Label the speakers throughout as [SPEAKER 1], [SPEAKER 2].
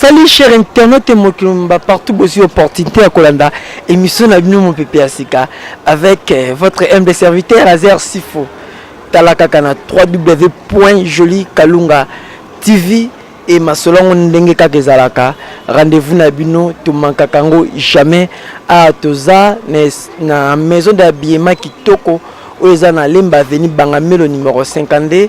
[SPEAKER 1] Salut cher internaute Mokilumba, partout bozui opportunité à Kolanda, émission na bino mon pépé Asika avec euh, votre MD serviteur Azer Sifo. Talaka kana www.jolikalunga TV et masolo yango ndenge kaka ezalaka rendez-vous na bino tomankaka yango jamais awa toza na maison d'habillement kitoko oyo eza na lemba avenue bangamelo numero 52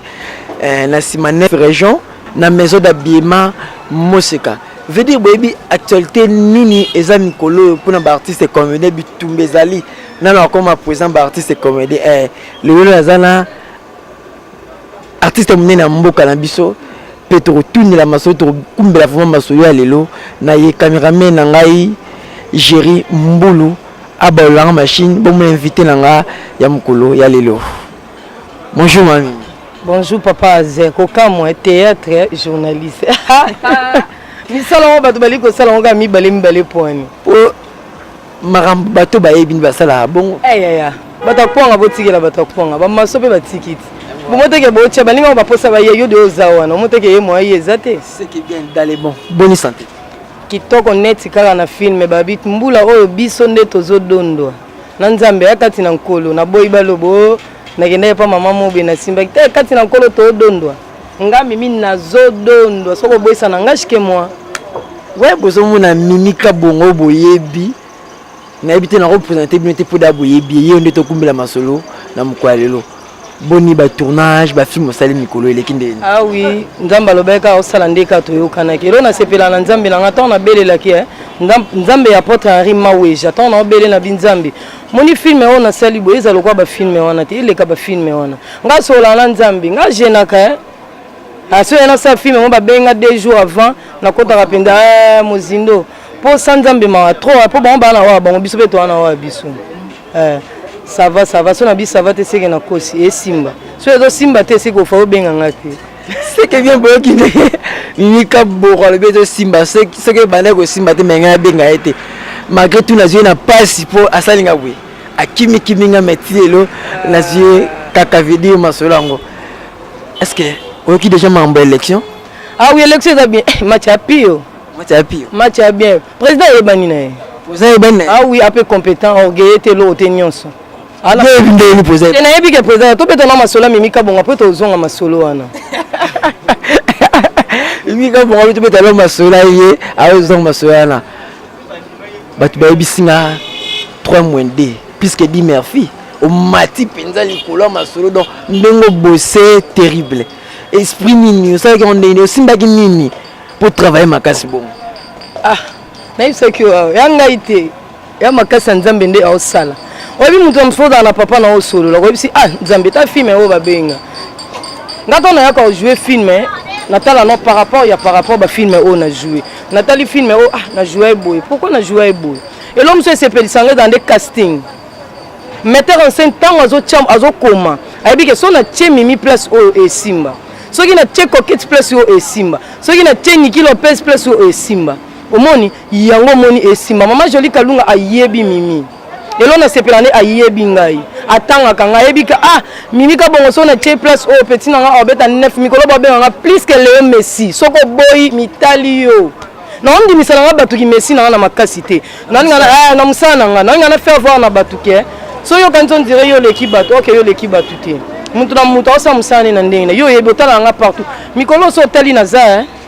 [SPEAKER 1] eh, na nsima 9 région na maison d'habillement moseka veut dire boyebi actualité nini eza mikolo oyo mpona baartiste comédien bitumba ezali nano akoma présent baartiste comédien eh, lelo naza na artiste ya monene ya mboka na biso mpe tokotunela masolo tokokumbela vraimen masolo ya lelo na ye cameraman na ngai géri mbulu abalolanga machine bomona invité na nga ya mokolo ya lelo bonjour mami bonjour papa
[SPEAKER 2] aze kokamwa théâtre journaliste misala yango bato bali kosala yango kaka mibale mibale poani
[SPEAKER 1] makambo bato bayebi nde basalaka bongo eyaya eh, bato
[SPEAKER 2] ya kwanga botikela bato ya kwanga bamaso mpe batiki ti bomoteke botya baninga ngo baposa baye yo de oza wana omoteke ye moya ye eza te
[SPEAKER 1] boni sante kitoko
[SPEAKER 2] neti kaka na filme babi mbula oyo biso nde tozodondwa na nzambe ya kati na nkolo naboyi balobo oh, nakendaki mpa mama mobe nasimbaki te kati na nkolo todondwa nga mimi nazodondwa soki oboyisa na nga shike mwa we
[SPEAKER 1] bozomona mimi kabongo boyebi nayebi te nakopresente bino te mpo da boyebi ye nde tokumbela masolo na mokolo ya lelo boni batournage bafilme osali mikolo eleki ndeni awi ah nzambe
[SPEAKER 2] alobaki kaka osala nde kaka toyokanaki elo nasepela na nzambe na nga ntango nabelelaki eh, nzambe ya apotre henri maweja ntango naobele na binzambe moni filme oyo nasali boye eza lokola bafilme wana te eleka bafilme wana nga solola na nzambe nga genaka eh? aso ah, ya nasala filme yango babenga deux jours avant nakotaka mpenza eh, mozindo mpo sa nzambe mawa trop mpo bango baa na wawa bango biso mpe toa na wawa biso eh, sava sava so na biso sava te seke na kosi esimba so ezosimba te eseke ofa obenga nga te seke bien
[SPEAKER 1] boyoki nde mimika boko alobi ezosimba soki ebanda kosimba te me ngai abenga ye te malgré tout nazwi ye na mpasi mpo asali nga boye akimikimi nga meti lelo nazwi ye kaka vedir masolo yango est ce que oyoki déjà makambo ya élection ah oui élection
[SPEAKER 2] eza bien eh, match ya pio match ya pio match ya bien président ayebani na ye président ayebani na ye ah
[SPEAKER 1] oui ape compétent
[SPEAKER 2] orgueilleux te eloko te nyonso
[SPEAKER 1] te nayebi ke président tobeta
[SPEAKER 2] na masolo ya mimi kabonga mpo tozonga masolo wana
[SPEAKER 1] mimi kabonga mpe tobeta na masolo ye aozonga masolo wana bato bayebisi nga 3 moins 2 puisque di merci omati mpenza likolo ya masolo donc ndenge obose terrible esprit nini osalaki yango ndenge nini osimbaki nini mpo travaille makasi bongo ah
[SPEAKER 2] nayebisaki yo ya ngai te ya makasi ya nzambe nde aosala oyebi moto ya mosusu ozala na papa na osolola oyebisi ah nzambe ta filme oyo babenga nga ntango nayaka ojoue filme natala no par rapport ya par rapport bafilme oyo na joue natali filme oyo ah na joue eboye pourkui na joue eboye elo mosusu esepelisa nga eza nde casting metteur en scène ntango azokoma ayebi ke so natie mimi place oyo esimba soki natie coquete place oyo esimba soki natie niki lopez place oyo esimba omoni yango omoni esimba mama joli kalunga ayebi mimi lelo nasepela nde ayebi ngai atangaka ngai ayebi ka ah mimi kabongo so na tie place oyo peti na ngai abeta 9 mikolo babenga ngai plus ke leo messi soki oboyi mitali yo naondimisana ngai bato ki messi na ngai na makasi te nalinga eh, na mosala na ngai nalinga na faire voir na bato ke so yokanisi ondire yo oleki bato oke yo oleki bato te moto na moto aosala mosala ne na ndenge na yo oyebi otalaka ngai partout mikolo oso otali naza eh?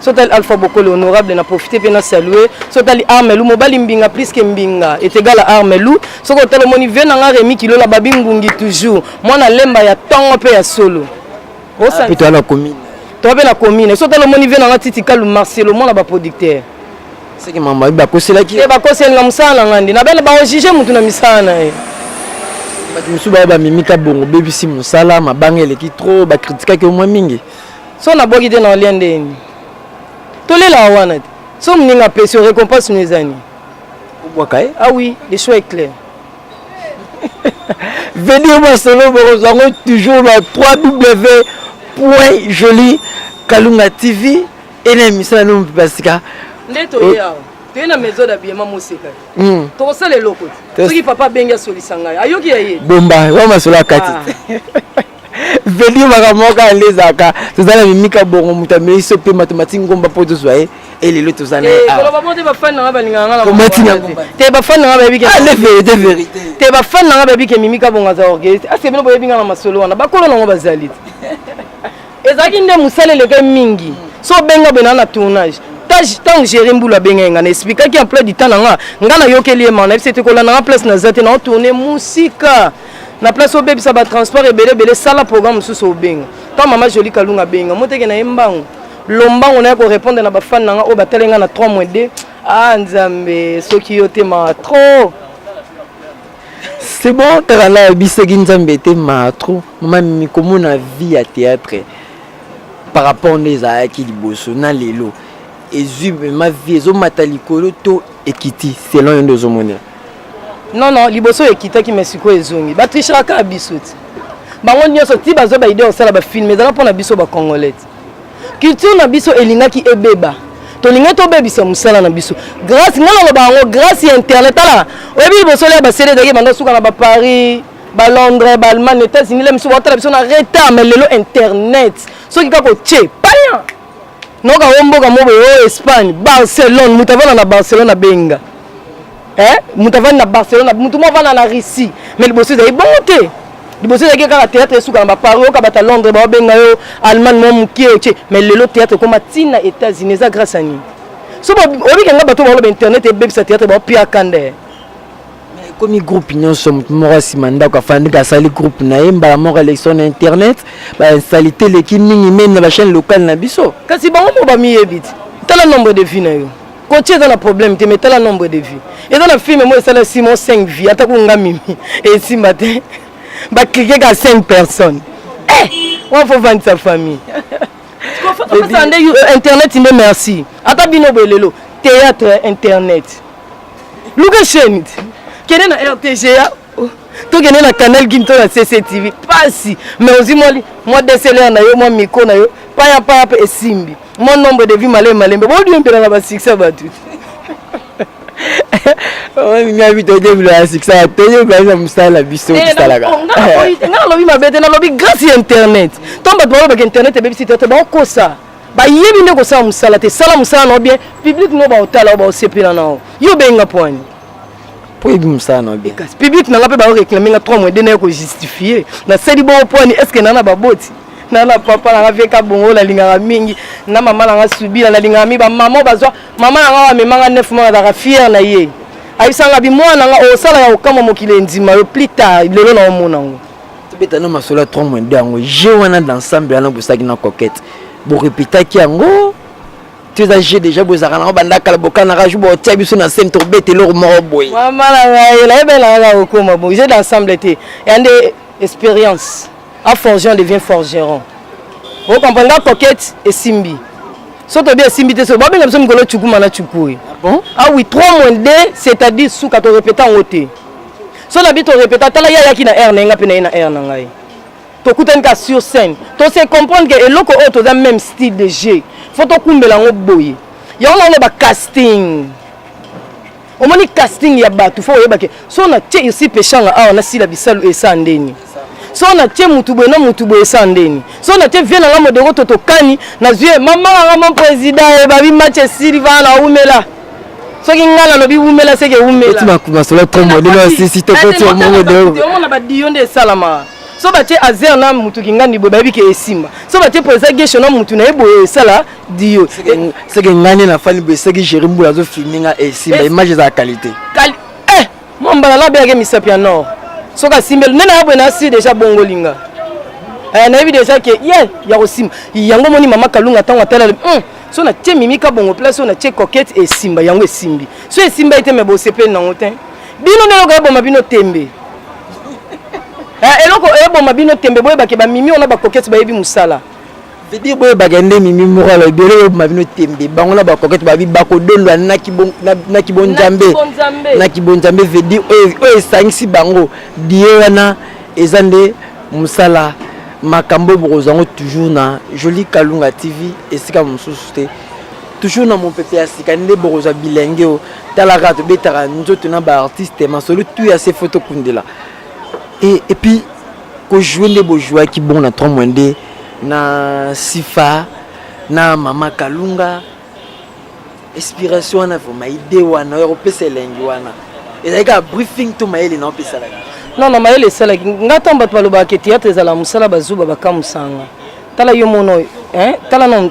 [SPEAKER 2] so tali alpha bokole honorable na profite mpe na salue so tali armelu mobali mbinga plus ke mbinga etegala armelu soki otala omoni vie na nga remi kilola babi ngungi toujours mwana lemba ya ntongo mpe ya solo osantoa
[SPEAKER 1] na commune toa mpe na commune
[SPEAKER 2] so otala omoni vie na nga titi kalu marcelo mwana baproducteur seke mama
[SPEAKER 1] bakoselaki eh, bakoseli na mosala na
[SPEAKER 2] ngai nde na bene baojuge motu na misala na ye
[SPEAKER 1] bato mosusu baya bamemi kabongo bebisi mosala mabanga eleki trop bakritikaki omwa mingi so nabwaki te
[SPEAKER 2] na olia ndenge nini tolelaka wana te so moninga apesi yo récompense no eza nini obwaka ye
[SPEAKER 1] ah oui
[SPEAKER 2] le choix est clair
[SPEAKER 1] venir masolo bokozwa yango toujours na 3w point joli kalunga tv ena émission na nomo basika nde toye
[SPEAKER 2] awa toye na maison d'habillement moseka hmm. tokosala eloko te soki papa abengi asolisa ngai ayoki ya ye bomba wa masolo
[SPEAKER 1] akati ah. vedi makambo moko yande ezalaka toza na mimika bongo moto ameli so mpe matomati ngomba mpo tozwa ye elelo toza na
[SPEAKER 2] te bafani
[SPEAKER 1] nanga bayebi
[SPEAKER 2] ke mimika bongo aza orgueilliste aske bino boyebi nga na masolo wana bakolo nango bazali te ezalaki nde mosala eleke mingi so obenga bena na tournage ntango géri mbulu abenga ye ngai na explikaki emploi du temps na nga ngai nayokeli ye mana yebisi ete kolanda nga place naza te naotourne mosika na place obebisa ba transport ebele ebele sala programme mosusu obenga ntango mama jolie kalunga abenga moteke na ye mbangu lombango na ye korepondre na bafane na nga oyo batali nga na 3 mois 2 ah nzambe soki yo te mawa trop
[SPEAKER 1] c'est bon kaka na yebisaki nzambe te mawa trop mama mimi komona vie ya théâtre par rapport nde ezalaki liboso na lelo ezwi ma vie ezomata likolo to ekiti selon yo nde ozomonela Non non,
[SPEAKER 2] liboso ekitaki mais sikoyo ezongi. Ba trichera kaka biso ti. Bango nyonso ti bazo ba idée osala ba film ezala pona biso ba congolais. Culture na biso elingaki ebeba. Tolinga tobebisa musala na biso. Grâce ngana loba yango grâce ya internet ala. Oyebi liboso lya ba CD ezalaki banda suka na ba Paris, ba Londres, ba Allemagne, États-Unis, la misu ba tala biso na retard mais lelo internet. Soki kaka otie, paya! noka o mboka mo boye o espagne barcelone moto avanda na barcelone abenga eh? moto avandi na barcelone moto mo avanda na russie mais liboso ezali bongo te liboso ezalaki kaka théâtre esuka na bapari oyo kabata londres baobenga yo allemagne mwa mokie otie mais lelo théâtre ekoma ntina états-unis eza grâce ya nini so obike nga bato baoloba internet ebebisa théâtre baopiaka nde
[SPEAKER 1] ekomi groupe nyonso moto moko nsima ndako afandika asali groupe na ye mbala moko election na internet bainsalite eleki mingi meme na bachaine locale na biso kasi bango moko bamiyebi
[SPEAKER 2] te tala nombre de vie na yo kotia eza na problème te mais tala nombre de vie eza na filme moko esala simon 5 vie atako nga mimi esimba te baklike ka 5 personnes eh, wana fo vandisa famille nde internet nde merci ata bino boye lelo théâtre internet luka chaîne kende na rtga oh, tokende na canal gine to na cctv pasi mais ozwi mwa mwa dslr na yo mwa miko na yo paya paya mpe esimbi mwa nombre de vie malembe malembe bodiembelaka basuccès bato
[SPEAKER 1] nga bi toyebila ya succès toyebila na mosala na biso eh, tosalaka nga nalobi
[SPEAKER 2] mabe te nalobi grâce ya internet ntango bato balobaka internet ebebisi te te baokosa bayebi nde kosala mosala te sala mosala nao bien public no baotala o baosepela nao yo obenga poani po yebi
[SPEAKER 1] mosala na bien kasi public nanga mpe baoreklame
[SPEAKER 2] nga 3 mois de naye kojustifie nasali bongo poani estce naa na baboti na na papa nanga veka bongo nalingaka mingi na mama nanga subila nalingaka mingi bamama bazwa mama nanga oyo amemanga 9 mois nazalaka fiere na ye ayebisanga bimwana nanga osalaka kokamwa mokili endima yo plus tard lelo na omona yango tobeta no masolo ya
[SPEAKER 1] 3 moins 2 yango je wana d'ensemble wana bosaki na coquette borepetaki yango to eza je déjà bozalaka nango banda kala bokanaka ju botia biso na scène tobeta eloko moko boye mama na ngai
[SPEAKER 2] nayebelaka kaka kokoma bo je d'ensemble te ya nde expérience a forgeon devient forgeron okomprendre nga coquette esimbi soki tobi esimbi te soki babenga biso mikolo cukuma na cuku oyo ah bon ah oui 3 moins 2 c'est à dire suka torepeta yango te so na bi to repeta tala ye ayaki na aire na ye nga mpe na ye na aire na ngai tokutani ka sur scène to se comprendre ke eloko oyo toza même style de jeu fo tokumbela yango boye yango naoloba casting omoni casting ya bato fo oyebake so na tie irsi peshanga awa nasila bisalu esa ndeni so na tie mutu boye na mutu boye sa ndeni so na tie vie na nga modero totokani nazwi ye mama na nga mon président ye eh, babi match esili vaa na wumela soki ngai nalobi wumela seke wumelamasolo kombo
[SPEAKER 1] ndenge osisi tokoti omongo deomona badiyo nde
[SPEAKER 2] esalamaka so batie azer na mutu kingandi boye bayebi ke esimba so batie président gesho na mutu na ye boye esala diyo seke ngai
[SPEAKER 1] nde nafani boye seki géri mbula azofilme nga esimba image eza ya qualité
[SPEAKER 2] Mwa mbala labe yake misapi ya nord. Soki asimbeli nene yabwe na asi deja bongolinga. Eh, nayebi deja ke ye ya kosimba yango moni mama kalunga ntango atalali hmm, so natie mimika bongo place oyo natie coquete esimba yango esimbi so esimba ye te me bosepeli nango te bino nde eloko eboma bino tembe eh, eloko eboma bino tembe boyebake bamimi ona bakokete bayebi mosala vedir
[SPEAKER 1] boyebaka nde mimi moko alobi bele bobima bino tembe bango na bakokete babi bakodondwa na kibonzambe na kibonzambe vedir oyo esangisi bango die wana eza nde mosala makambo oyo bokozwa yango toujours na joli kalunga tv esika mosusu te toujours na mopepe ya sika nde bokozwa bilenge oyo talaka tobetaka nzoto na baartiste masolo tu ya se fo tokundela epuis ko jouer nde bo jouaki bon na 3 moins 2 na sifa na mama kalunga inspiration wana vraimen ide wana oyo akopesa elengi wana ezalaki kaka briefing to mayele na opesalaka non na mayele
[SPEAKER 2] esalaki ngai ntango bato balobaka ke théâtre ezala mosala bazuba bakamusanga tala yo mono tala non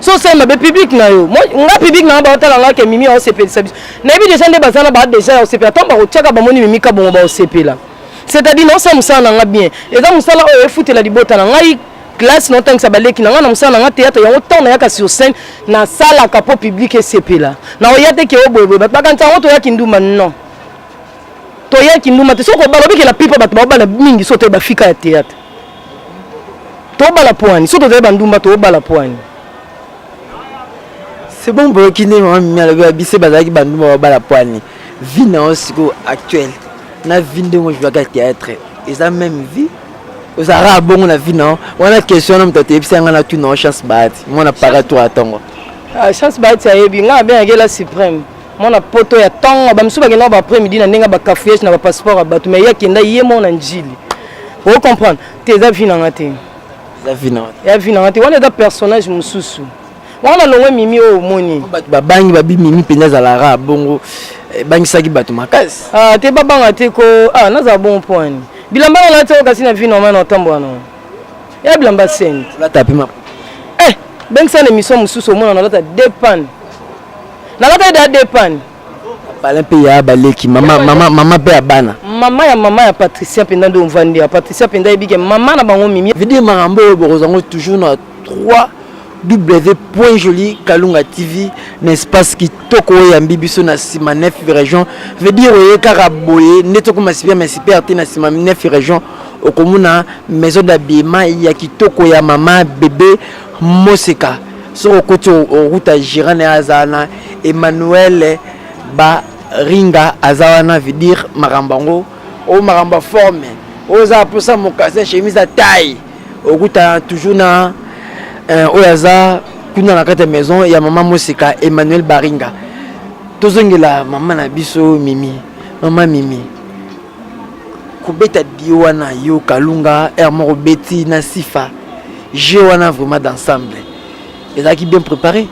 [SPEAKER 2] so osali mabe public na yo nga public na nga baotala nga ke mimi aosepelisa biso nayebi deja nde baza na baa deja ya osepela ntango bakotyaka bamoni mimi kabongo baosepela c'est-à-dire naosala mosala na nga bien eza mosala oyo efutela libota na ngai classe naotangisa baleki na ngai na mosala na ngai théâtre yango ntango nayaka sur scène nasalaka mpo public esepela naoya te ke oboyeboye bato bakanisa yango toyaki nduma non toyaki nduma te soki obala obikela pipo bato baobala mingi so toye bafika ya théâtre tobala pwani soki tozali bandumba tobala pwani
[SPEAKER 1] c'est bon boyoki nde mama mimi alobi babise bazalaki bandumba babala pwani vie na yo sikoyo actuelle na vie ndenge ojouaka théâtre eza même vie ozalaka bongo na vie na yo wana question wana moto ateyebisa yanga na tuna yo chance bahati mwana paratoire atongo ah, chance bahati
[SPEAKER 2] ayebi ngai abengaki ela suprême mwana poto ya ntongo bamisusu bakenda ba après midi na ndenge ba cafouillage na ba passeport ya bato mais ye akenda ye moko na njili o comprendre te eza vi nanga te
[SPEAKER 1] ya vi nanga te wana eza
[SPEAKER 2] personnage mosusu wana longwe mimi oyo omoni babangi babi
[SPEAKER 1] mimi mpenza azalara bongo ebangisaki eh, bato makasi ah, te babanga te
[SPEAKER 2] ko ah, nazala bongo mpo wani bilamba nalati oyo kasi na vi normal na ntambo wana ya bilamba seni olata pe maputa
[SPEAKER 1] eh
[SPEAKER 2] bengisa na émission mosusu omona nalata deux panne nalataki da deux panne bala mpe
[SPEAKER 1] ya baleki mama mama mama mpe ya bana mama ya mama ya
[SPEAKER 2] patricia mpenza nde ovandi ya patricia mpenza ayebike mama na bango mimi video makambo oyo bokozango
[SPEAKER 1] toujours na 3 www.jolie kalunga tv na espace kitoko oyo yambi biso na nsima nef region veut dire oye kaka boye nde tokoma super mais super te na nsima nef region okomona maison d'habillement ya kitoko ya mama bebe moseka soki okoti okuta gérant na ye aza wana emmanuel baringa aza wana veut dire makambo yango oyo makambo ya forme oyo eza mposa mokasi ya chemise ya taille okuta toujours na eh, oyo aza kuna na kati ya maison ya mama mosika emmanuel baringa tozongela mama na biso mimi mama mimi kobeta dio wana yo kalunga r moko beti na sifa jeu wana vraiment d'ensemble ezalaki bien préparé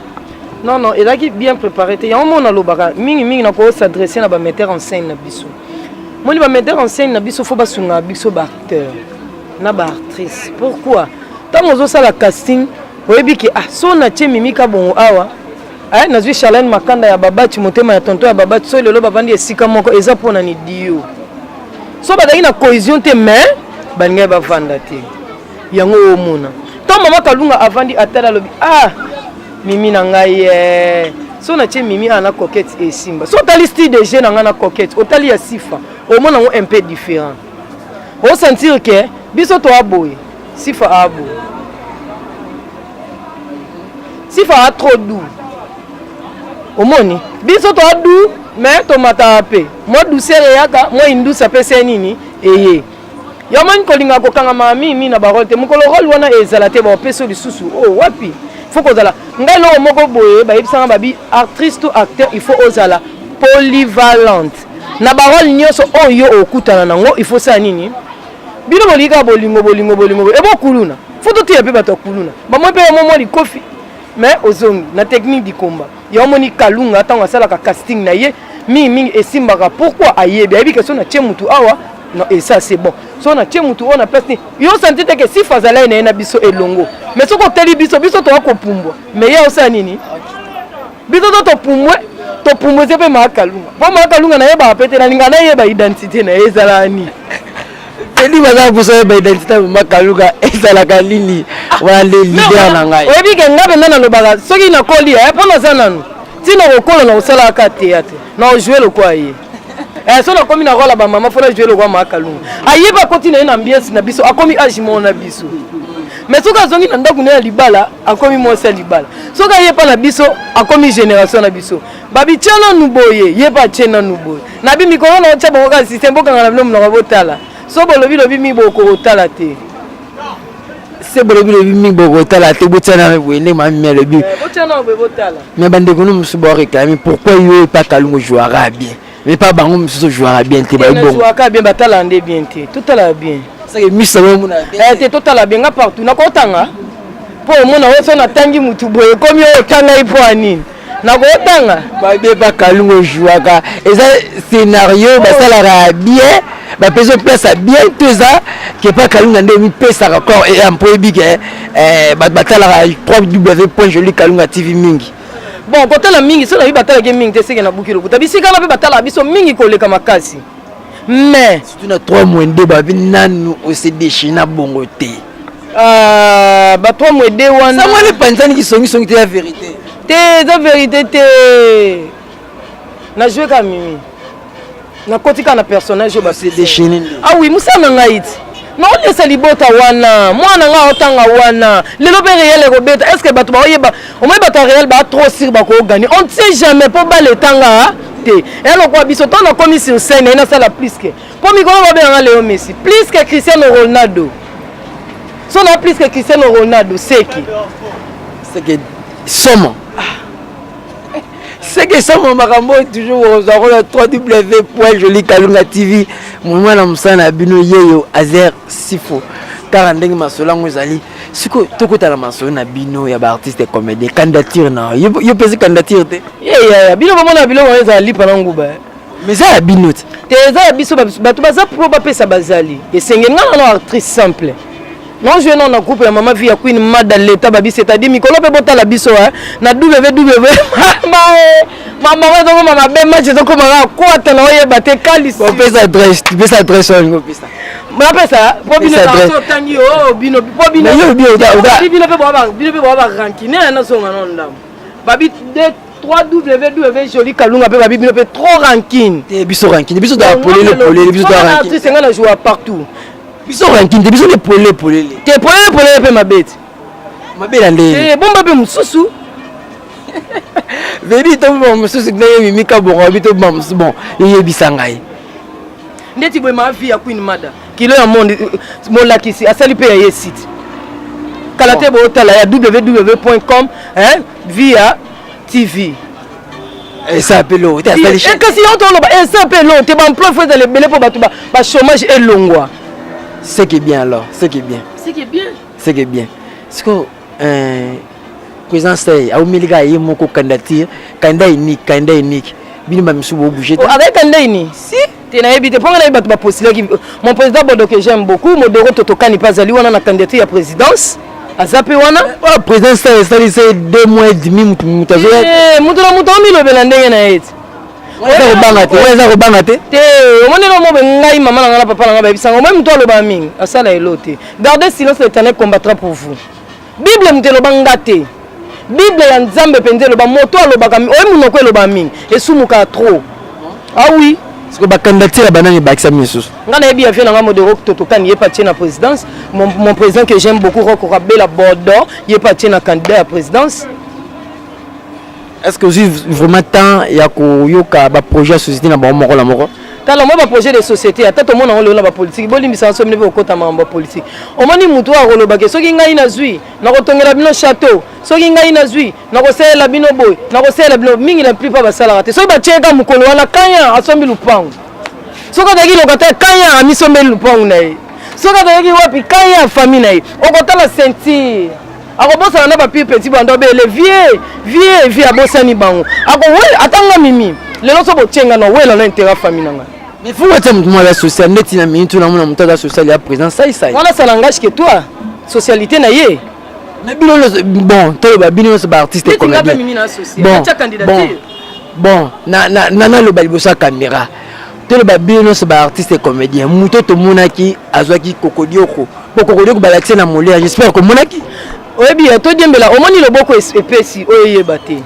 [SPEAKER 1] non non
[SPEAKER 2] ezalaki bien préparé te yango moko nalobaka mingimingi nakoki s'adresse na bametteur en scène na biso moni bametteur en scène na biso fo basungaka biso baacteur na ba actrice pourquoi ntango ozosala casting oyebi ke ah so natie mimi kabongo awa eh, nazwi charlene makanda ya babati motema ya tonto ya babati so lelo bavandi esika moko eza mpo na nidio so bazalaki na cohésion te mais balingaki bavanda te yango omona ntango mama kalunga avandi atala alobi ah mimi na ngai eh. so natie mimi awa na coquette esimba so otali style de jeu na ngai na coquette otali ya sifa omona yango un peu différent o sentir que biso toa boye sifa a boye sifa a trop doux omoni biso toa doux mais tomataka mpe mwa douceur eyaka mwa induce apesi ye nini eye yo omoni kolinga kokangama mimi na barole te mokolo role wana ezala te baopesi yo lisusu o oh, wapi faut kozala ngai eloko moko boye bayebisanga babi actrice to acteur il faut ozala polyvalente na barole nyonso oyo yo okutana nango il faut sala nini bino bolingi kaka bolingo bolingo bolingo ebo kuluna fo toteya mpe bato ya kuluna bamoi mpe yango mwa likofi mais ozongi na technique dikomba ya omoni kalunga ntango asalaka casting na ye mingi mingi esimbaka pourquoi ayebi ayebi ke so natie motu awa non et ça c'est bon so natie motu oyo na place nini yo santi te ke sifa azalai na ye na biso elongo mais soki otali biso biso toya kopumbwa mais ye osala nini biso to topumbwe topumbwe se mpe maakalunga mpo maakalunga nayebaka mpe te nalinga nayeba identité na ye ezalaka nini tedi
[SPEAKER 1] baza kopusa yeba identité ya maakalunga ezalaka nini wana nde lider na ngai oyebi ke ngai mpenza nalobaka
[SPEAKER 2] soki nakoli mpo naza nanu ntina kokola na kosalaka ka teyatre na ojoue lokola ye Eh, so nakomi na rola bamama mpo najue lokwa maakalunga ayeba akoti na ye na ambiance na biso akomi age moko na biso mais soki azongi na ndako na ye ya libala akomi mwasi ya libala soki aye mpa na biso akomi génération na biso babitya nanu boye ye mpe atye nanu boye na bi mikolo na otya bango kaka systeme bokanga na bino monoko botala so bolobi lobi mi bokokotala te
[SPEAKER 1] se bolo bilobi mingi bokotala te botyana na boye ndenge mami alobi eh,
[SPEAKER 2] me bandeko no mosusu
[SPEAKER 1] baoreklame pourkui yo epa kalungu jouaka bien me pa bango mosusu jouaka bien te baibongoaka bien batalaka nde
[SPEAKER 2] bien te totalaka bien misa
[SPEAKER 1] omona eh, te totala bien nga
[SPEAKER 2] partout nakotanga mpo omona oyo so natangi motu boye ekomi oyo otangai mpo ya nini nakotanga babe bakalunga
[SPEAKER 1] ojuaka eza scenario basalaka ya bien bapesi opesa bien to eza kepa kalunga nde omipesaka kor ea mpo oyebi ke eh, bato batalaka 3 w point joli kalunga tv mingi bon kotala
[SPEAKER 2] mingi soki nayebi batalaki mingi te seke nabuki lokuta bisika wana mpe batalaka biso mingi koleka makasi mais surtout na 3 mois
[SPEAKER 1] nde babi nanu ose dechina bongo te Ah,
[SPEAKER 2] ba trois mois de wana sango wana epanzani
[SPEAKER 1] kisongisongi te ya verité te eza verité
[SPEAKER 2] te najue ka mimi nakoti kaka na personnage oyo basedechine ah oui
[SPEAKER 1] mosala na
[SPEAKER 2] ngai ti naolesa libota wana mwana ngai aotanga wana lelo mpe réel ekobeta est ce que bato baoyeba omoi bato ya réel baa trop sur bakoogani on ne sait jamais mpo bala etanga te elokwa biso ntango nakomi sur scène ye nasala plus que Po mikolo babenga nga Leo Messi plus que Cristiano Ronaldo. So na plus que Cristiano Ronaldo seki.
[SPEAKER 1] Seki somo. Seki somo makambo toujours okozwa kola 3W point joli kalunga TV. Mwana mosala na bino yeyo Azer Sifo. Kaka ndenge masolo yango ezali sikoyo tokota na masolo na bino ya baartiste comédien candidature na yo mpesi candidature te yeyaya bino bomona
[SPEAKER 2] biloko ezala lipa na nguba mais eza ya bino
[SPEAKER 1] te te eza ya biso
[SPEAKER 2] bato baza pro bapesa bazali esengeli nga nano actrice simple non joue non na groupe ya mama vie ya queen mada leta babi c'est-à-dire mikolo mpe botala biso eh. na ww mamago ezokoma mabe match ezokoma kaka kwata na oyeba te kalisiopesa adresse
[SPEAKER 1] pesa adresse oyo olingi opesa napesa
[SPEAKER 2] po bino otangi o bino po bino bino mpe boa barankine nazonga no ndambo babi www.jolikalunga pe babi bino pe trop rankine te biso rankine biso
[SPEAKER 1] da polele polele biso da rankine artiste nga na joua partout
[SPEAKER 2] biso rankine
[SPEAKER 1] te biso ne polele polele te polele
[SPEAKER 2] polele pe mabete mabela
[SPEAKER 1] nde eh bomba pe mususu vedi to bomba mususu ndenge mimi kabongo abi to bomba mususu bon eyebisa ngai ndeti
[SPEAKER 2] boye ma vie ya queen mada kilo ya monde molakisi asali pe ya ye site kala te bootala ya www.com via tv
[SPEAKER 1] eza mpe lo te asali eh, kasi yango toloba
[SPEAKER 2] eza eh, mpe lo te baemploi fo ezala ebele mpo bato bachômage elongwa ce qui est
[SPEAKER 1] bien alors ce qui est bien ce qui est bien ce qui est bien sikoyo euh, président sey aumeli kaka ye moko candidature candidat unique candidat unique bino bamisusu bobouge te oh, avec candidat unique
[SPEAKER 2] si te nayebi te mpo nga nayebi bato bapostilaki mon président bodo que j'aime beaucoup modoro totokani mpe azali wana na candidature ya présidence aza mpe wana oh, président star
[SPEAKER 1] esalisa ye deux mois et demi motu motu azoya eh, motu na motu
[SPEAKER 2] amilobela ndenge na ye te eza kobanga
[SPEAKER 1] te eza kobanga te te omoni na
[SPEAKER 2] mobe ngai mama na ngai na papa na ngai bayebisanga omoi motu alobaka mingi asala elo te garde silence l'éternel combattra pour vous Bible moto eloba nga te. Bible ya Nzambe mpenza eloba moto alobaka oye monoko eloba mingi esumuka trop. Ah oui. Siko ba candidature
[SPEAKER 1] ya banani bakisa misus. Nga nayebi ya vie na nga
[SPEAKER 2] modero toto kan yepa tie na présidence. Mon, mon président que j'aime beaucoup Roko Kabela Bodo yepa tie na candidat ya présidence.
[SPEAKER 1] est ce que ozwi vraiment temps ya koyoka baprojet ya société na bango moko na moko tala moi baprojet de
[SPEAKER 2] société ata tomona yango lelo na bapolitiki bolimbisa nso bino mpe kokota makambo ya politiki omoni motu oyo akolobake soki ngai nazwi nakotongela bino chateau soki ngai nazwi nakosalela bino boye nakosalela bino mingi la plupart basalaka te soki batyeka mokolo wana kanya asombi lupangu soki azalaki lokata kanya amisombeli lupangu na ye soki azalaki wapi kanya ya famille na ye okotala ceinture akobosana na ba pire petit banda obele vie vie vie abosani bango ako we atanga mimi lelo so botienga na wela na intera famille na ngai mais faut wata mutu
[SPEAKER 1] mwa ya social neti na minute na mona mutu aza social ya présent sai sai wana ça n'engage que
[SPEAKER 2] toi socialité na ye mais bino
[SPEAKER 1] bon toloba bino nyonso ba artiste
[SPEAKER 2] comédien
[SPEAKER 1] bon bon na na na naloba liboso ya caméra toloba bino nyonso ba artiste comédien moto tomonaki azwaki kokodioko po kokodioko balakisa na mole ya j'espère komonaki oyebi ya
[SPEAKER 2] todiembela omoni loboko epesi oyo eyeba te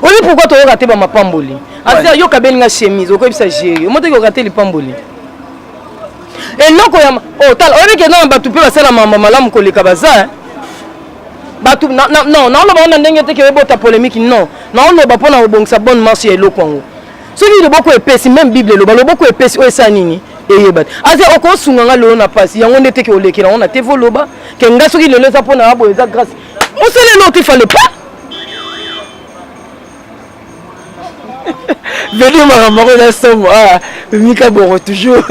[SPEAKER 2] oyebi pourkui toyoka te bamapamboli asi ayoka abeli nga chemise okoyebisa jeri omotoki oyoka te lipamboli eloko ya otala oh, oyebi kenda na bato mpe basala mama malamu koleka baza bato non naoloba ngo na ndenge te ke ebota polémique non naoloba mpo na kobongisa bonne marche ya eloko yango soki loboko epesi meme bible eloba loboko epesi oyo esala nini eyeba te aze okosunga nga lelo na mpasi yango nde teke olekela yango na te voloba ke nga soki lelo eza mpo na ya boye eza grâce osala eloko te fale pa
[SPEAKER 1] vedi makambo yango eza somo ah, mika boko toujours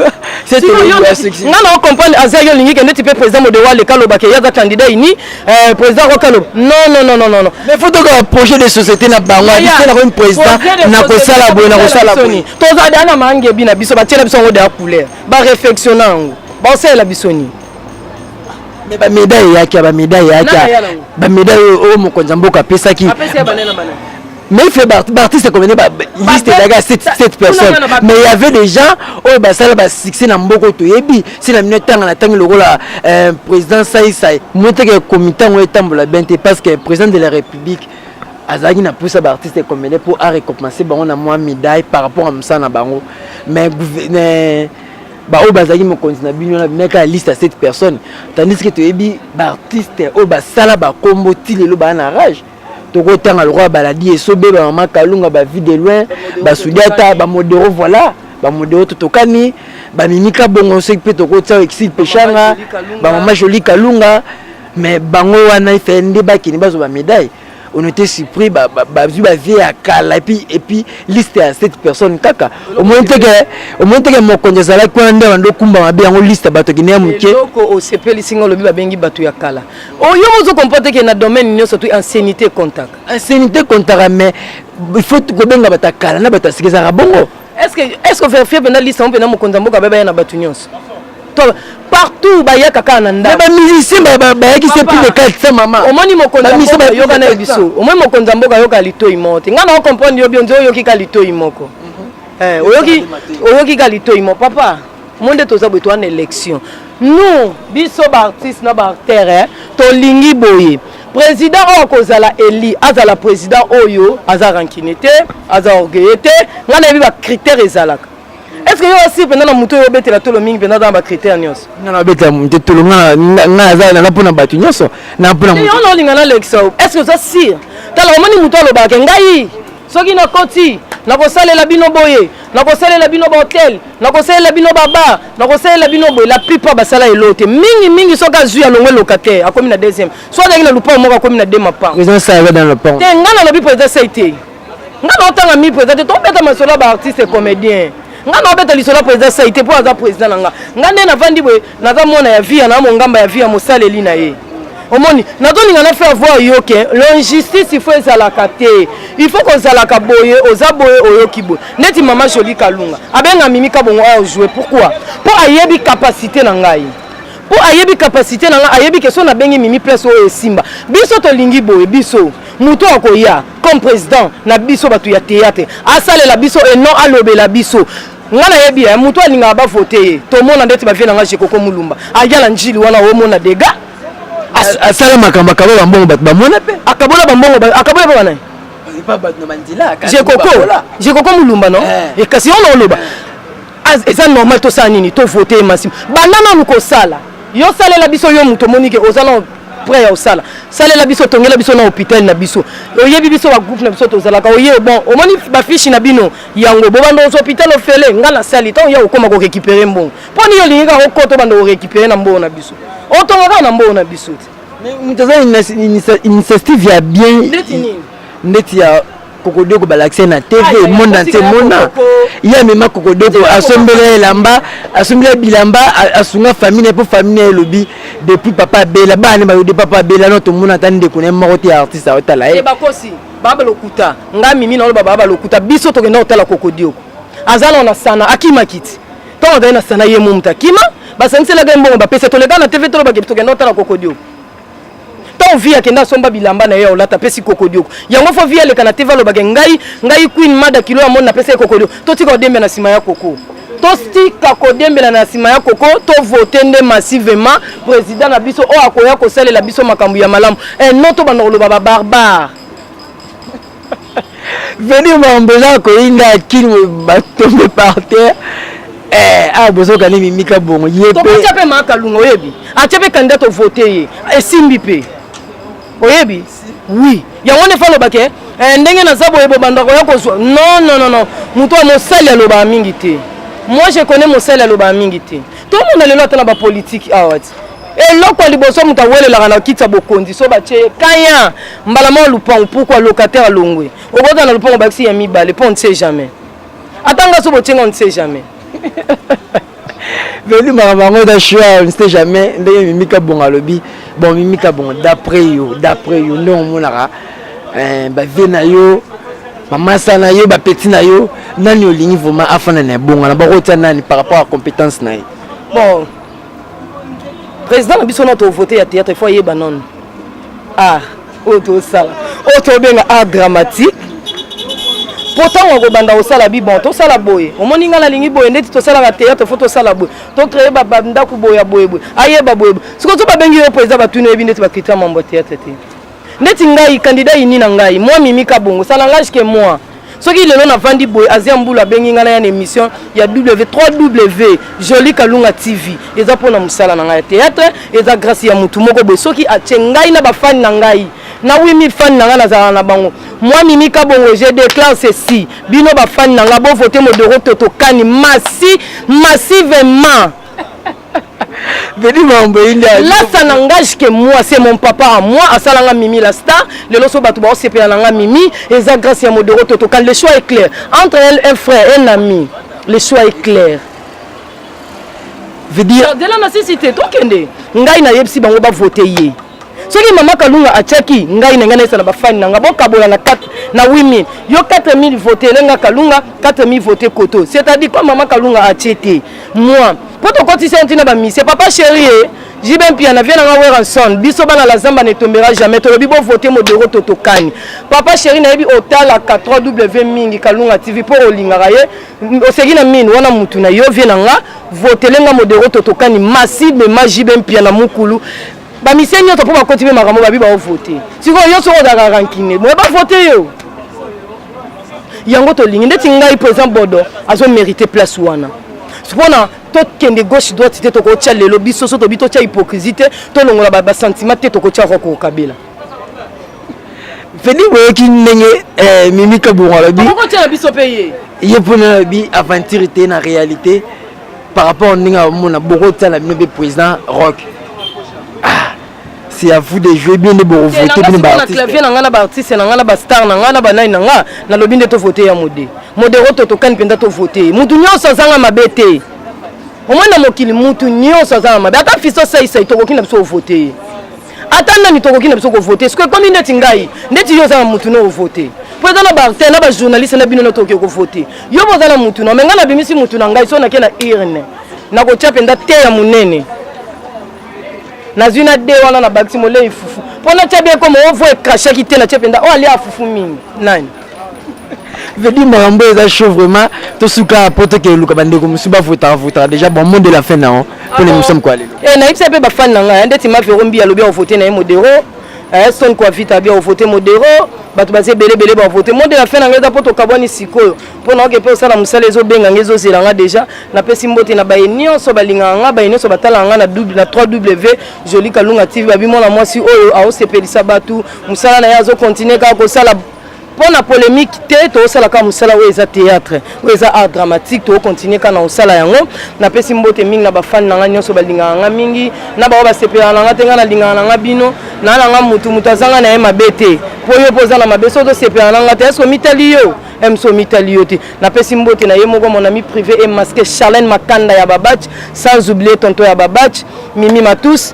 [SPEAKER 1] nga na
[SPEAKER 2] ocomprendre aza yo olingi ke ndeti mpe président modewa aleka alobake ye aza candidat ini Eh, président kokalo non non non non non mais faut toka
[SPEAKER 1] projet de société na bango abikela ko président na kosala boye na kosala boye toza da na mangebi
[SPEAKER 2] na biso batiela biso yango da couleur ba réflexion yango baosalela biso nini mais
[SPEAKER 1] ba médaille yaki ba médaille yaki ba médaille oyo mokonzi ya mboka apesaki Mais il fait Bartis comme bah, liste d'aga 7 7 personnes. Mais il y avait des gens au basala ba succès na mboko to yebi, c'est la minute tanga na tanga lokola euh, président Sai Sai. Mote que comité ngo etambola bien te parce que président de la République azalaki na mposa baartiste ekomele mpo arecompense bango na mwa médaille par rapport ya mosala na bango mais baoyo bazalaki mokonzi na bino wana bimeka ya liste ya 7 personnes tandis ke toyebi baartiste oyo basala bakombo ti lelo baa na rage tokotanga lokola baladi esobe bamama kalunga bavi de loin basudata bamodero voilà bamodero totokani bamimika bongo soki mpe tokotia exil peshanga bamama joli kalunga mais bango wana efe nde bakende bazwa bamedaille on était surpris bazwi bavie ya kala epuis epuis liste ya cette personne kaka omoni teke omoni teke mokonzi azalaki wana nde bando okumba mabe yango liste ya bato akende ya moke osepelisi
[SPEAKER 2] nga olobi babengi bato ya kala oyo oh, mozo comprendre ke na domaine nyonso tu anciennité comptaka anciennité comptaka
[SPEAKER 1] mais il faut kobenga bato ya kala na bato ya sika ezalaka bongo estce verifie
[SPEAKER 2] mpena liste yango mpena mokonzi ya mboka baye baya na bato nyonso partout bayaka kaka na ndako bamusicien
[SPEAKER 1] bayaki se plus de 400 mama omoni mokonziyoka
[SPEAKER 2] na ye biso omoni mokonzi ya mboka ayoka litoi moko te ngai na ocomprendre yo bionzi oyoki ka litoi moko mhm. eh, oyoki ka litoi moko papa mo nde toza boye toa na élection nous biso baartiste na baartere eh, tolingi boye président oyo akozala eli azala président oyo aza rankine te aza orgueille te ngai nayebi bacritère ezalaka est ce que yo osi mpenza na moto oyo obetela tolo mingi mpenza aza na bacritère nyonso nga nabetela moto
[SPEAKER 1] tolo nga naza naza mpo na bato nyonso na mpo na moto olinga na lekisa
[SPEAKER 2] est ce que oza sire tala omoni moto alobaka ngai soki nakoti nakosalela bino boye nakosalela bino bahotel nakosalela bino babar nakosalela bino boye la plupart basala elo te mingi mingi soki azwi alongwe locataire akomi na deuxième so azalaki na lupango moko akomi na de mapango
[SPEAKER 1] te ngai nalobi président sai
[SPEAKER 2] te ngai naotanga mi président te tobeta masolo ya baartiste comédien ngai naobeta lisolo ya président sai te mpo aza président na ngai ngai nde navandi boye naza mwana ya via na mongamba ya via mosaleli na ye omoni nazolinga na faire voir yo ke l'injustice il faut ezalaka te il faut kozalaka boye oza boye oyoki boye neti mama joli kalunga abenga mimi kabongo ayo joue pourquoi mpo ayebi capacité na ngai mpo ayebi capacité na ngai ayebi ke so nabengi mimi place oyo esimba biso tolingi boye biso moto akoya comme président na biso bato ya théâtre asalela biso et non alobela biso nga nayebi ye moto alingaka bavote ye tomona ndeti bavie na nga jekoko mulumba aya na njili wana omona dega asala
[SPEAKER 1] makambo akabola bambongo bato bamona mpe akabola bambongo
[SPEAKER 2] akabola mpe banani
[SPEAKER 1] jekoko jekoko
[SPEAKER 2] mulumba no eh. eh, kasi ona oloba eh. eza normal tosala nini tovote ye masimo banda nanu kosala yo salela biso yo moto omoni ke oza na près ya osala salela biso tongela biso na hôpital na biso oyebi biso bagroupe na biso tozalaka oye bon omoni bafishi na bino yango bobanda ozo hôpital ofele nga nasali ntango ya kokoma korekipere mbongo mpo nini olingi kaka okota obanda korekipere na mbongo na biso otonga kaka na mbongo na biso te moto aza
[SPEAKER 1] initiative ya bien ndeti nini ndeti ya kokodoko balakisa na tv monde entier mona ye amema kokodoko asombela ye elamba asombela bilamba asunga famille na ye mpo famille na ye elobi depuis papa abela bana bayo de papa abela no tomona ata ndeko na ye moko te ya artiste aotala ye
[SPEAKER 2] baba lokuta nga mimi na loba baba lokuta biso tokenda kotala kokodioko aza na na sana akima kiti ntango azali na sana ye momutu akima basangiselaka ye mbongo bapesa toleka na tv tolobaki tokenda kotala kokodioko ntango vi akenda asomba bilamba na ye ya olata apesi kokodioko yango fo vi aleka na tv alobaki ngai ngai queen mada kilo ya moni napesa ye kokodioko totika odembe na nsima ya koko tostika kodiembela na nsima ya koko tovote nde massivement président na biso oyo akoya kosalela biso makambo ya malamu eh, no tobanda koloba babarbare
[SPEAKER 1] veni mambo eza koyinda kini batombe par terre eh, awa ah, bozoka nde mimika bongo ye mpe mpe makalunga
[SPEAKER 2] oyebi atya mpe kandida tovote ye esimbi mpe oyebi oui yango nde fa alobaka eh, ndenge naza boye bobanda koya kozwa non non non non moto ya mosali alobaka mingi te moi je connais mosali alobaka mingi te tomona lelo ata na bapolitiki awa ah, ti eloko ya liboso moto awelelaka na kiti ya bokonzi so batye ye kaya mbala moko lupango pourkua locataire alongwe okota na lupango bakisi ya mibale mpo on ne sait jamais ata nga so botyenga on ne sait jamais
[SPEAKER 1] velu makambo yango eza sure ne sait jamais ndenge mimi kabongo alobi bon mimi kabongo d'après yo d'après yo ndenge omonaka eh, bavie na yo mamasa na yo bapeti na yo nani olingi vraimen afanda na ebongana bakotia nani par rapport ya compétence na ye bon
[SPEAKER 2] président na biso na tovote ya théâtre il faut ayeba nano ah oyo tosala oyo tobenga art dramatique mpo ntango akobanda kosala bibon tosala boye omoni ngai nalingi boye ndeti tosalaka théâtre fo tosala boye tocreye bandako boye ya boyeboye ayeba boyeboye soki ozo babengi yo mpo eza batuni oyebi ndeti bakritia mambo ya théâtre te ndeti ngai candidat ini na ngai mwa mimika bongo salangage ke mwa soki lelo navandi boye azia mbulu abengi ngai naya na émission ya w 3w joli kalunga tv eza mpo na mosala na ngai ya théâtre eza grâce ya motu moko boye soki atie ngai na bafani na ngai na 8000 fani na ngai nazalaka na bango mwa mimi kabongo je déclare ceci bino bafani na ngai bovote modoro totokani masi masivement Vedi mambo inde lasta na ngage que moi c'est mon papa à moi asala nga mimi la star lelo so bato bao sepela na nga mimi eza grâce ya modoro toto kan le choix est clair entre elle un frère un ami le choix est clair
[SPEAKER 1] veut dire dela na sisi te
[SPEAKER 2] tokende ngai nayebisi bango bavote ye soki mama kalunga atiaki ngai na ngai naisa na bafani na ngai bokabola na 4 na 8000 yo 4000 vote elenga kalunga 4000 vote koto c'est-à-dire comme mama kalunga atie te moi mpo tokotisi yango ntina bamisie papa chéri e jibe mpia na vie na ngai weranson biso bana la zamba ne tombera jamais tolobi bovote modero to tokani papa chéri nayebi otalaka 3w mingi kalunga tv mpo olingaka ye oseki na mini wana motu na yo vie na nga votelenga modero to tokani masibe ma jibe mpia na mokulu ba mise nyonso mpo bakoti mpe makambo babi baovote sikoyo yo soko ozalaka rankine moye bavote yo yango tolingi ndeti ngai président bodo azomérite place wana mpona tokende gauche droite te tokotya lelo biso so tobi totya hypocrisie te tolongola basentiment te tokotya roko kabila
[SPEAKER 1] fedi boyoki ndenge eh, mimika bongo alobi
[SPEAKER 2] ye mpona alobi
[SPEAKER 1] aventure te na réalité par rapport ndenge amona bokotala bino mpe président rock ah, c'est à vous de jouer bien nde bokovote bino baartisteclavier na ngai na baartiste na
[SPEAKER 2] ngai na bastar na ngai na banai na ngai nalobi nde tovote ya mode modero to tokani mpenza tovote ye motu nyonso azanga mabe te omoi na mokili motu nyonso azanga mabe ata fiso saisai tokoki na biso ovote ye ata nani tokoki na biso kovote soki ekomi ndeti ngai ndeti yo oza na motu no ovote mpo eza na barte na bajournaliste na bino notoki okovote yo boza na motu no me ngai nabimisi motu na ngai so nake na urne nakotya mpenza te ya monene nazwi na de wana na bakisi molei fufu mpo natya bie ekoma ovo ekashaki te natye mpenza oyo alia fufu mingi nani
[SPEAKER 1] vedi makambo eza chaud vraiment tosuka po tokende luka bandeko mosusu bavotaka votaka déjà bon monde de la fin nao mpo na émission moko ya lelo eh, nayebisa mpe bafani na
[SPEAKER 2] ngai ndeti mavero mbi alobi aovote na ye modero eh, son kua vita abi aovote modero bato baza ebele ebele bavote monde de la fin na ngai eza mpo tokabwani sikoyo mpo naoke mpe osala mosala ezobenga ngai ezozela ngai déjà napesi mbote na baye nyonso balingaka ngai baye nyonso batalaka ngai na 3 w joli kalunga tv babi mwana mwasi oyo aosepelisa bato musala na ye azo continuer kaka kosala mpo na polemique te tokosala kaka mosala oyo eza théâtre oyo eza art dramatique tokocontinue kaka na kosala yango napesi mbote mingi na bafani na ngai nyonso balingaka ngai mingi na baoyo basepelaka na ngai te ngai nalingaka na ngai bino naa na ngai motu motu azanga na ye mabe te mpo yo mpo oza na mabe soki tosepelaka na ngai te eske omitali yo mso omitali yo te napesi mbote na ye moko mon ami privé e masque charlene makanda ya babach sans oublier tonto ya babach mimi matus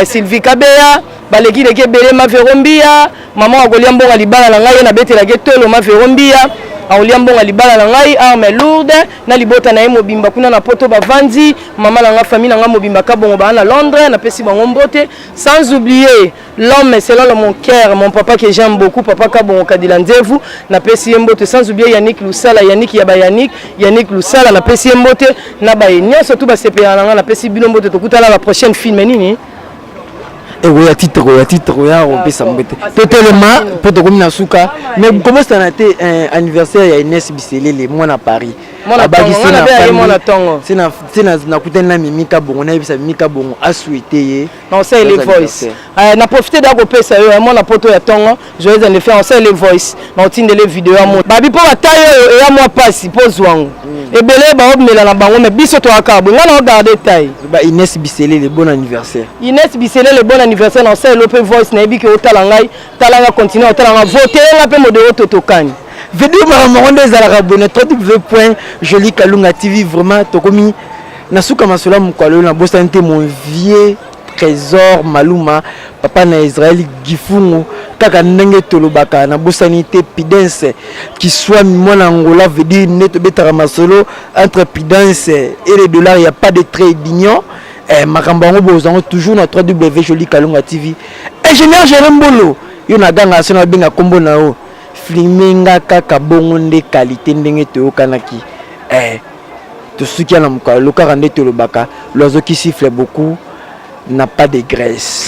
[SPEAKER 2] sylvie kabeya baleki leki ebele mavero mbiya mama akolia mbongo libala na ngai ye nabetelaki etolo mavero mbiya akolia mbongo libala na ngai arme lourde na libota na ye mobimba kuna na poto bavandi mama na ngai famille na ngai mobimba kabongo baa na londres napesi bango mbote sans oublier l'homme selon le mon cœur mon papa que j'aime beaucoup papa kabongo kadila nzevu napesi ye mbote sans oublier yannick lusala yannick ya bayannick yannick lusala napesi ye mbote na baye nyonso tu basepelaka na ngai napesi bino mbote tokutana na prochaine film nini
[SPEAKER 1] ekoya titre koya titre koya kopesa mbete totelema mpo tokomi na suka mais kobosana te eh, anniversaire ya ines biselele mwana paris nakutani na mimi kabongo nayebisa mimi kabongo aswete ye
[SPEAKER 2] na profite da kopesa yo ya mwana poto ya ntongo Joyeux anniversaire, on sait les voice, na otindele video ya mot. Babi po bataille oyo eya mwa pasi po zwango. Mm. Ebele ba obmela na bango mais biso to aka bo ngana regarder taille. Ba Inès Biselele
[SPEAKER 1] bon anniversaire. Inès Biselele
[SPEAKER 2] bon anniversaire na osai lope voice na ebi ke otala ngai, tala nga continuer otala nga voter nga pe modero totokani. Video mara moko
[SPEAKER 1] nde ezalaka bone www.jolikalunga TV vraiment tokomi na suka masolo ya mokolo oyo nabosani te mon vieux Tresor Maluma, papa na Israël Gifungu, kaka ndenge tolobaka na bosani te Pidense Kiswami mwana Angola veut dire nde tobetaka masolo entre Pidense et les dollars, il n'y a pas de trait d'union. Eh, makambo yango bozwa yango toujours na 3W Jolie Kalunga TV. Ingénieur Jérôme Mbolo, yo na ganga sona benga kombo na yo. Filme nga kaka bongo nde qualité ndenge toyokanaki. Eh, tosuki ya na mokalo lokaka nde tolobaka loazo qui siffle beaucoup n'a pas de graisse.